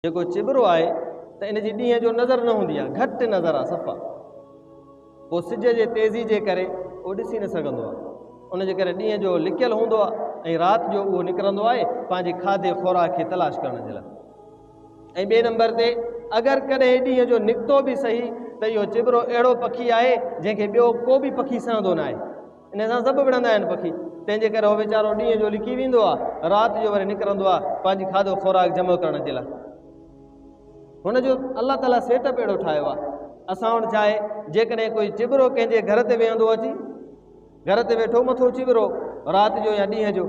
جيڪو چٻرو آهي ته ان جي ڏينهن جو نظر نه هوندي آهي، گهٽ نظر آهي صفا. پوء سج جي تيزي جي ڪري اهو ڏسي نه سگهندو آهي. ان جي ڪري ڏينهن جو لڪيل هوندو آهي ۽ رات جو اهو نڪرندو آهي پنهنجي کاڌي خوراڪ کي تلاش ڪرڻ جي لاء. ۽ ٻئي نمبر تي اگر ڪڏهن ڏينهن جو نڪتو به صحيح ته اهو چٻرو اهڙو پکي آهي جنهن کي ٻيو ڪو به پکي سهندو ناهي. انهيء سان سڀ وڙهندا آهن پکي، تنهن جي ڪري هو ويچارو ڏينهن جو لڪي ويندو آهي، رات جو وري نڪرندو آهي پنهنجي کاڌو خوراڪ جمع ڪرڻ جي لاء. هن جو الله تعاليٰ سيٽ اپ اهڙو ٺاهيو آهي. اسان وٽ ڇا آهي، جيڪڏهن ڪوئي چٻرو ڪنهن جي گهر تي ويهندو اچي، گهر تي ويٺو مٿو چٻرو رات جو يا ڏينهن جو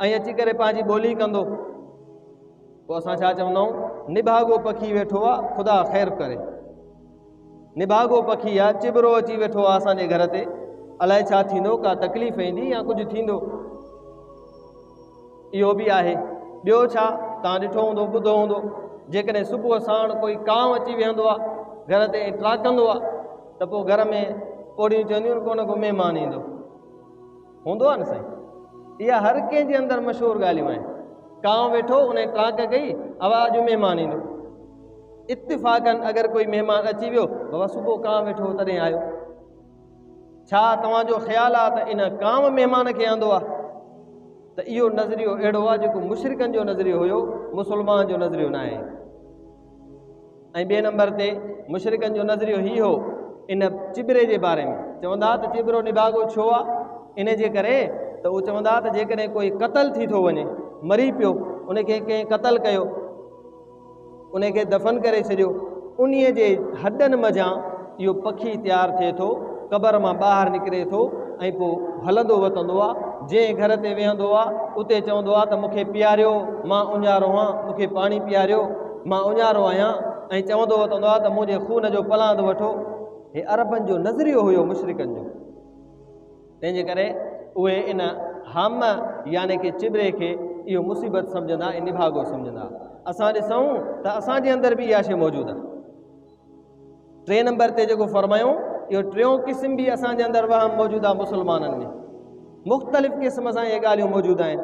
۽ اچي ڪري پنهنجي ٻولي ڪندو، پوء اسان ڇا چوندا آهيون، نڀاڳو پکي ويٺو آهي، خدا خير ڪري. نڀاڳو پکي يا چٻرو اچي ويٺو آ اسان جي گهر تي الائي ڇا ٿيندو ڪا تڪليف ايندي يا ڪجهه ٿيندو اهو به آهي ٻيو ڇا تان ڏٺو هوندو ٻڌو هوندو جيڪڏهن صبح ساڻ ڪوئي ڪانو اچي ويهندو آ گهر تي ٽراڪندو آ ته پوء گهر ۾ پوڙيون چونديون ڪونه ڪو مهمان ايندو هوندو آهي نه سائين اها هر ڪنهن جي اندر مشهور ڳالهيون آهن ڪانء ويٺو ان ڪانڪ ڪئي اوا اڄ مهمان ايندو اتفاقن اگر ڪوئي مهمان اچي ويو بابا صبح ڪانء ويٺو تڏهن آيو ڇا توهان جو خيال آ ته ان ڪانء مهمان کي آندو آ ته اهو نظريو اهڙو آ جيڪو مشرڪن جو نظريو هيو مسلمان جو نظريو نه آهي ۽ ٻئي نمبر تي مشرڪن جو نظريو هي هو ان چٻري جي باري ۾ چوندا ته چٻرو نڀاڳو ڇو آ ان جي ڪري ته هو چوندا ته جيڪڏهن ڪوئي قتل ٿي ٿو وڃي مري پيو ان کي ڪنهن قتل ڪيو ان کي دفن ڪري ڇڏيو انهيء جي هڏن منجهان اهو پکي تيار ٿئي ٿو، قبر مان ٻاهر نڪري ٿو ۽ پوء هلندو وتندو آ، جنهن گهر تي ويهندو آ، اتي چوندو آ ته مون کي پياريو، مان اونهارو آهيان، مون کي پاڻي پياريو، مان اونهارو آهيان ۽ چوندو وتندو آ ته منهنجي خون جو پلاند وٺو. هي عربن جو نظريو هيو مشرڪن جو. تنهنجي ڪري اهي ان حم يعني ڪي چٻري کي اهو مصيبت سمجهندا ۽ نڀاڳو سمجهندا. اسان ڏسون ته اسان جي اندر به اها شيء موجود آ. ٽئين نمبر تي جيڪو فرمايو اهو ٽيون قسم به اسان جي اندر وهم موجوده مسلمانن ۾ مختلف قسم سان اهي ڳالهيون موجود آهن